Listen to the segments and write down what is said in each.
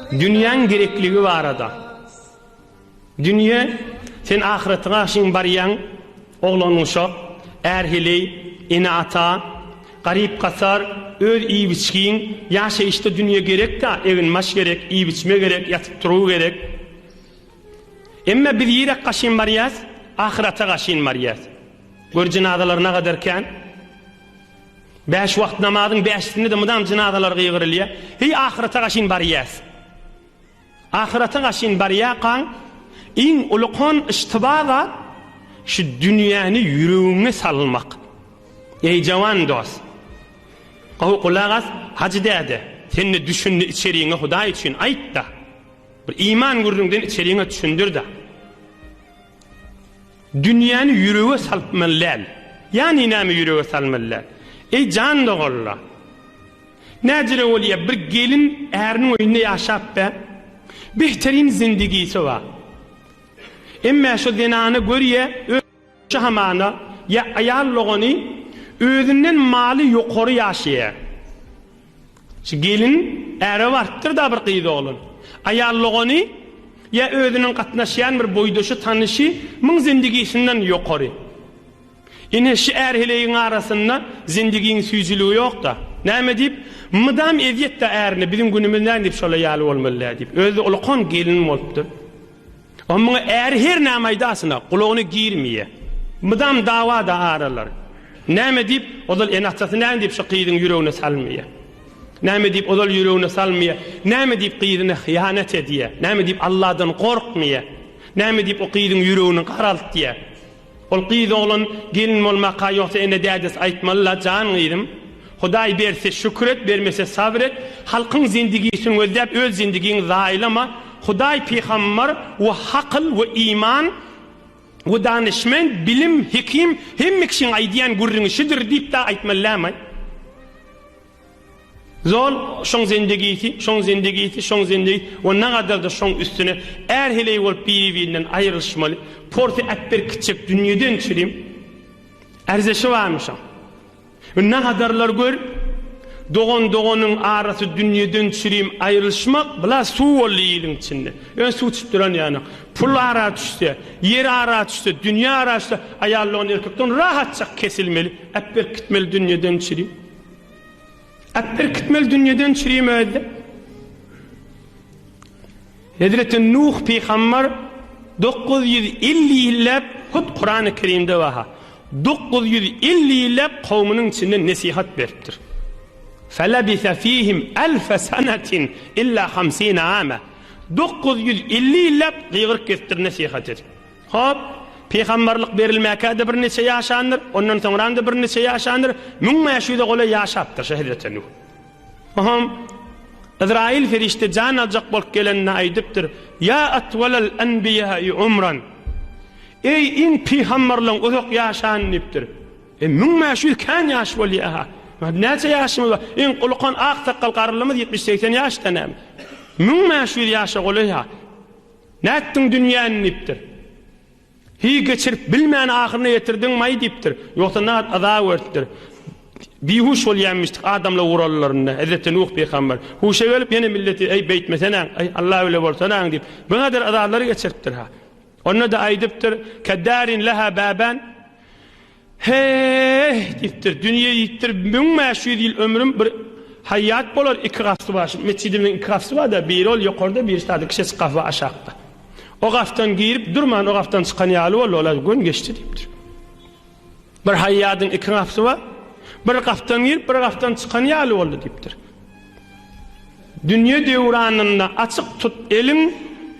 Dünýäň gerekligi barada. Dünýe, sen ahyratyňa aşyň barýaň, oglanuşak, ärheleý, ene-ata, garyp-gasar, öz iýip-içgiň, ýaşaýyşda dünýe gerek-dä, egin-maş gerek, iýip-içme gerek, ýatyp-turgy gerek. Emma biz ýirak gaşyn barýas, ahyrata gaşyn barýas. Gör jenazalary nagader kän. Bäş wagt namazyň bäşisinde-de mydam jynazalar gygyrylýar. Heý, ahyrata gaşyn barýas. Ahyrata gaşyn barýarkaň, iň ulukan yştyba zat şu dünýäni ýüregiňe salmak. Eý, jawan dost! Gowy gulak as, Hajy däde, sen-de düşündi içeriňe Hudaý üçin aýt-da. Bir iman gürrüňden içeriňe düşündir-de. Dünýäni ýürege salpmaly däl. Ýani näme ýürege salmaly däl? Eý jan doganla. Näcirä bolýa bir gelin äriniň öýünde ýaşap be. Behterin zindigisi bar. Emmä şo zenana görýä öz ýa hamana ýa aýal dogany özünden maly ýokary ýaşaýa. Şu gelin äre barypdyr-da bir gyz oglan. Aýal dogany ýa özüniň gatnaşýan bir boýdaşy tanyşy müň zendigisinden ýokary. Ine şu är heleýiň arasynda zendigiň süýjüligi ýok-da. Näme diýip, mydam ezýet-dä ärine, biziň günümiz nädip şola ýaly bolmaly-dä diýip. Özi-de ulkan gelin bolupdyr. Ommyň äri her näme aýdasyna gulagyny girmýä. Mydam dawa-da aralar. Näme diýip, ozal ene-atasy näme diýip şu gyzyň ýüregine salmýa? Näme diýip, ozal ýüregine salmýa? Näme diýip, gyzyna hyýanat edýä? Näme diýip, Alladan gorkmýa? Näme diýip, o gyzyň ýüregini garaltýa? Ol gyz oglan gelin bolmaka ýogsa ene dädesi aýtmaly la jan gyzym Hudaý berse şükür et bermese sabr et halkyň zindigisin gözläp öz zindigiňi zaýalama Hudaý pygambar we hakyl we iman we danyşment bilim hekim hemme kişiň aýdýan gürrüňi şudur diýip da aýtmaly lämaý. Zol, şoň zendigisi, şoň zendigisi, şoň zendigi we nagadar-da şoň üstüne är heleý bolup biri-birinden aýrylyşmaly, porsy äpberk gitjek dünýeden çirim ärzeşi barmyşam. We nagadarlar gör, dogan-doganyň arasy dünýeden çirim aýrylyşmak bla suw boldy iliň içinde. Ýöne suw içip duran ýanok. Pul ara düşse, ýer ara düşse, dünýe ara düşse, aýaldan-erkekden rahatjak kesilmeli, äpberk gitmeli dünýeden çirim. At berkitmeli dünýeden çüri möýüzde. Hezreti Nuh pygambar dokuz ýüz elli ýylläp hut Kurany Kerimde baha dokuz ýüz elli ýylläp kowmynyň içinde nesihat beripdir. Felebise fihim elfe senetin illa hamsine ame. Dokuz ýüz elli ýylläp gygyryk kesipdir nesihat edip. Hop, pygamberlik berilmäkä-de birniçe ýaşandyr, ondan soňram-da birniçe ýaşandyr, müň bäş ýüze golaý ýaşapdyr şo hezreti Nuh. Oňam Yzraýyl perişde jan aljak bolup gelende aýdypdyr, Ýa atwalal enbiýaýy umran, Eý, iň pygamberleň uzak ýaşany diýipdir. E, müň bäş ýüz kän ýaş bolýa-ha. Näçe ýaşymyz bar? Iň ulukan ak sakgal garrylymyz ýetmiş-segsen ýaşda näme? Müň bäş ýüz ýaşa golaý-ha. Nätdiň dünýäni diýipdir. Hiý, geçirip bilmän ahyryna ýetirdiňmaý diýipdir. Ýogsa nagt yza öwüripdir. Bihuş bolýaýmyşdyk adamlar urallarynda. Hezreti Nuh pygamber huşa gelip ýene milleti eý beýtmeseneň, eý Alla bile bolsaneň diýip, biňadyr yzalary geçiripdir-ha. Onda-da aýdypdyr, Keddarin leha baban, He-e-e-e-e-e! diýipdir. Dünýe diýipdir, müň bäş ýüz ýyl ömrüm bir haýýat bolar iki gafsy bar. Şu metjidimiziň iki gafsy bar-da, biri ol ýokarda, biri sada kiçejik gaf bar aşakda. O gafdan girip, durman o gafdan çykan ýaly boldy, ol-a göni geçdi diýipdir. Bir haýýadyň iki gafsy bar, bir gafdan girip, bir gafdan çykan ýaly boldy diýipdir. Dünýe döwranynda açyk tut eliň,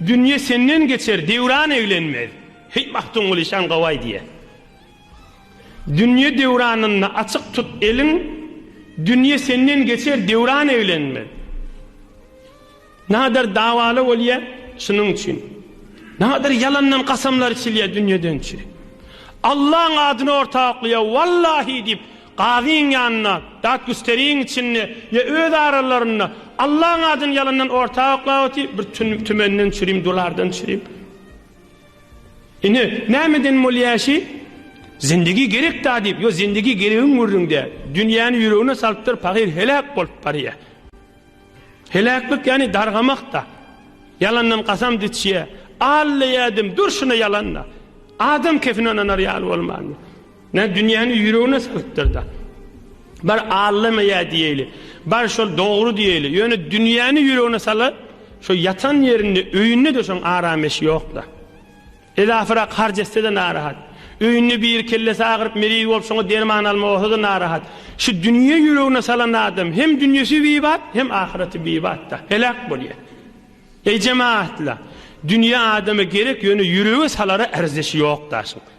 dünýe senden geçer, döwran eglenmez. Heý, Magtymguly şaň gowaý diýýä. Dünýe döwranynda açyk tut eliň, Dünýe senden geçer döwran eglenmez. Nadar dawaly bolýa şunuň üçin. Nadar ýalandan kasamlar içilýä dünýeden üçin. Allaň adyny orta oklaýa wallahi diýip gazyň ýanynda dat güsteriň içinde ýa öz aralarynda Allaň adyny ýalandan orta oklap otyr bir tümenden çürim dolardan çürim. Ine, nämeden bolýaşy? Zindigi gerek-dä diýip, ýo zindigi geregiň gürrüňde, dünýäni ýüregine salypdyr, pahyr heläk bolup barýa. Heläklik ýani dargamak-da. Ýalandan kasam diçýä. Alla ýadim, dur şuna ýalan-da. Adam kefine ynanar ýaly bolmandy. Nä dünýäni ýüregine sygypdyrda. Bar allama ýa diýeli. Bar şol dogry diýeli. Ýöne dünýäni ýüregine sala şo ýatan ýerinde öýünde de şoň aram eşi ýokda. Edafirak harç etse de narahat. Öýünde biri kellesi agyryp meriz bolup şoňa derman alma bolsa da narahat. Şu dünýe ýüregine salan adam hem dünýesi bibat hem ahyreti bibatda. Heläk bolýa. Eý jemaatla. Dünýe adama gerek ýöne ýürege salara erzeşi ýok daşyň.